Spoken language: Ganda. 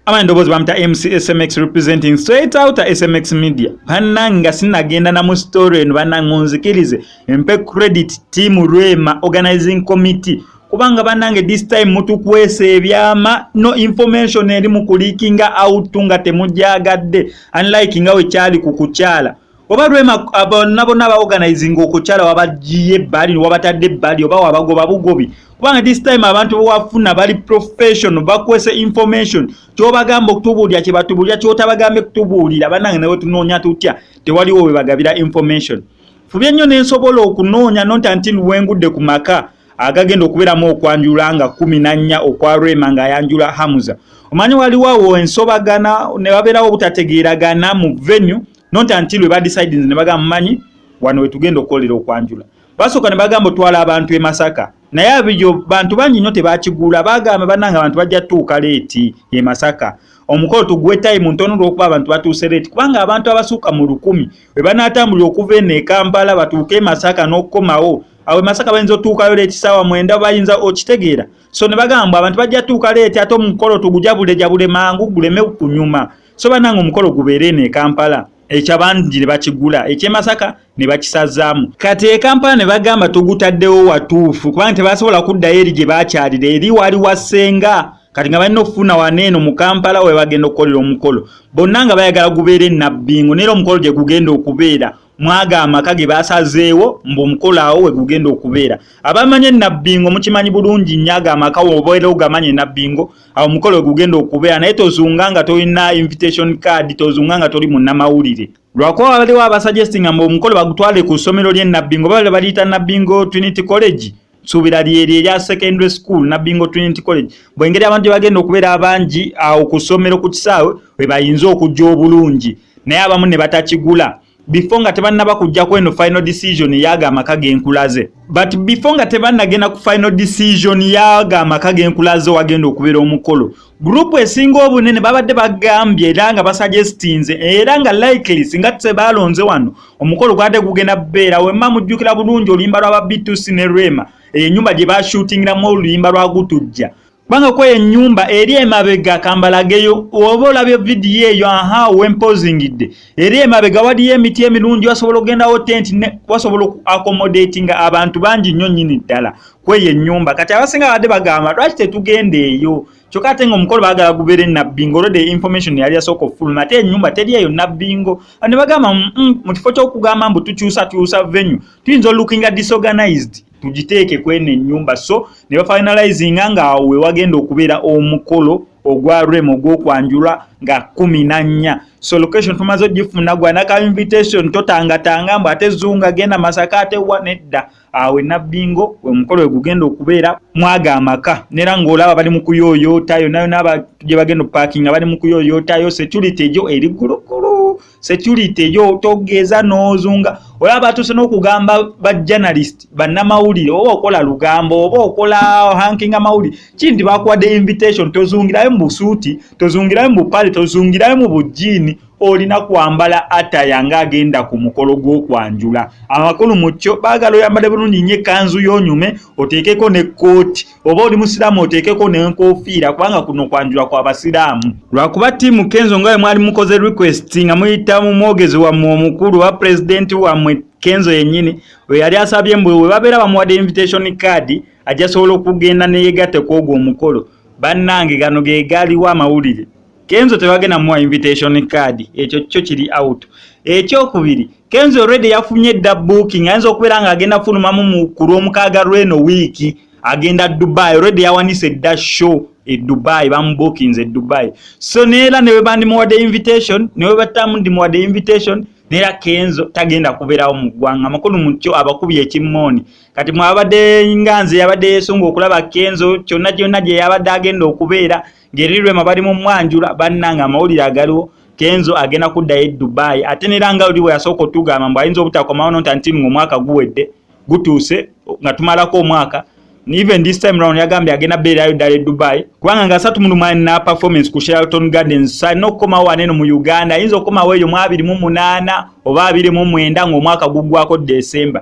ama endoboozi bamuta mcsmx representing straight out smx media banange nga sinagenda na mu story eno banange onzikirize mpe credit team rwema organizing committee kubanga banange this time mutukwesa ebyama no information eri mu kulikinga out nga temugyagadde unlike nga wekyali ku kukyala oba rema bonna bonna abaorganizinga okukyala wabagiye ebbali wabatadde ebbali oba wabagoba bugobi kubanga this time abantu bwewafuna bali professional bakwese information kyobagamba okutubuulira kyebatubuulira kyotabagambe kutubuulira banange nawe tunoonya tutya tewaliwo webagabira information fubye nnyo nensobola okunoonya nonta nti lwengudde ku maka agagenda okubeeramu okwanjula nga kumi nannya okwa rema nga ayanjula hamuza omanyi waliwo awo ensobagana nebabeerawo obutategeeragana mu venue not until we decide ne baga manyi wano wetugenda okolera okwanjula basoka ne bagambo twala abantu e masaka naye abijo bantu bangi nyote bakigula bagamba bananga abantu bajja tuuka leti e masaka omukolo tugwe time ntono lwokuba abantu batuuse leti kubanga abantu abasuka mu lukumi we banatambulira okuva eno e kampala batuuke e masaka n'okukomawo awo e masaka bayinza otuukayo leti saawa mwenda bayinza okitegeera so ne bagamba abantu bajja tuuka leti ate omukolo tugujabulejabule mangu guleme kunyuma so banange omukolo gubeera eno e kampala ekyabangi ne bakigula ekyemasaka ne bakisazaamu kati e kampala ne bagamba tugutaddewo watuufu kubanga tebasobola kuddayo eri gye bakyalira eri wali wasenga kati nga balina okufuna wana eno mu kampala we bagenda okukolera omukolo bonna nga bayagala gubeera enabbingo naera omukolo gye gugenda okubeera mwaga amaka ge basazeewo mbu omukolo awo we gugenda okubeera abamanyi enabbingo mukimanyi bulungi nnyo ago amaka wobeera ogamanyi enabbingo awo omukolo we gugenda okubeera naye tozunga nga tolina invitation card tozunga nga toli munnamawulire lwakuba waliwo abasuggestinga mbu omukolo bagutwale ku ssomero ly'enabbingo baba baliyita nabbingo trinity college suubira lyeri erya secondary school nabingo trinity college bwengeri abantu gyebagenda okubeera abangi awo ku ssomero ku kisaawe webayinza okujja obulungi naye abamu ne batakigula before nga tebannaba kujja kweno final decision yaga amaka genkulaze but before nga tebannagenda ku final decision yaga amaka genkulaze wagenda okubeera omukolo gurupu esinga obunene babadde bagambye era nga basajestinze era nga likely singa tebaalonze wano omukolo gwade gugenda beera wemma mujjukira bulungi oluyimba lwa ba btc ne rema eyo enyumba gye bashutingiramu oluyimba lwa gutujja kubanga kweyo enyumba eri emabega kambalageyo oba olabye vidiyo eyo aha wempozingidde eri emabega waliyo emiti emirungi wasobola okugendawo tenti wasobola accomodatinga abantu bangi nnyo nyini ddala kweyo enyumba kati abasinga badde bagamba lwaki tetugenda eyo kyokka ate nga omukolo bagala gubeere nabbingo olwedde information yali yasooka okufuluma ate enyumba teri eyo nabbingo ne bagamba mm, mm, mu kifo ky'okugamba mbu tukyusakyusa venue tuyinza olukinga disorganized tugiteeke kweno enyumba so ne bafinalizinga ngaawo we wagenda okubeera omukolo ogwa rem ogwokwanjulwa nga kumi na nnya so location tumaze ogifuna gwanaka invitation totangatanga mbu ate zunga genda masaka ate wa nedda awo enabbingo omukolo we gugenda okubeera mwaga amaka nera ng'olaba bali mu kuyoyoota yonayo naaba gye bagenda opaakinga bali mu kuyoyootayo security ejo eri gulugulu security ejo togeeza n'ozunga olaba batuuse n'okugamba ba journalist bannamawulire oba okola lugambo oba okola hankinga mawulire kiri nti bakuwadde invitation tozungirayo mu busuuti tozungirayo mu bupale tozungirayo mu bujjiini olina kwambala ataya nga agenda ku mukolo gw'okwanjula amakulu mu kyo baagala oyambale bulungi nnyo ekkanzu y'onyume oteekeko ne kkooti oba oli musiraamu oteekeko n'enkofiira kubanga kuno kwanjula kwa basiraamu lwakuba ttiimu kenzo nga we mwali mukoze request nga muyita mu mwogezi wammwe omukulu oba pulezidenti wammwe kenzo yennyini we yali asabye mbu we babeera bamuwadde invitation card ajja sobola okugenda neyegatte ku ogwo omukolo bannange gano ge gaaliwo amawulire kenzo tebagenda muwa invitation card ekyo kyo kiri out ekyokubiri kenzo already yafunye dda booking ayinza okubeera nga agenda fulumamu mu ku lwomukaaga lweno wiiki agenda dubai already yawanise dda show e dubai bamubookinze e dubai so neera newe bandimuwadde invitation newe batamu ndimuwadde invitation neera kenzo tagenda kubeerawo mu ggwanga makulu mukyo abakubi ekimmooni kati mwabadde nga nze yabadde yesunga okulaba kenzo kyonna kyonna gye yabadde agenda okubeera ngeri lwema bali mu mwanjula bannange amawulire agaliwo kenzo agenda kuddayo e dubai ate nera nga oli bwe yasooka otugamba mbu ayinza obutakomawo nonta nti nga omwaka guwedde gutuuse nga tumalako omwaka even this time round yagambye agenda beerayo ddala e dubai kubanga nga asatu mulumwani na performance ku shelton gardens salina okukomawo waneno mu uganda ayinza okukomawo eyo mu abiri mu munaana oba abiri mu mwenda ng'omwaka guggwako december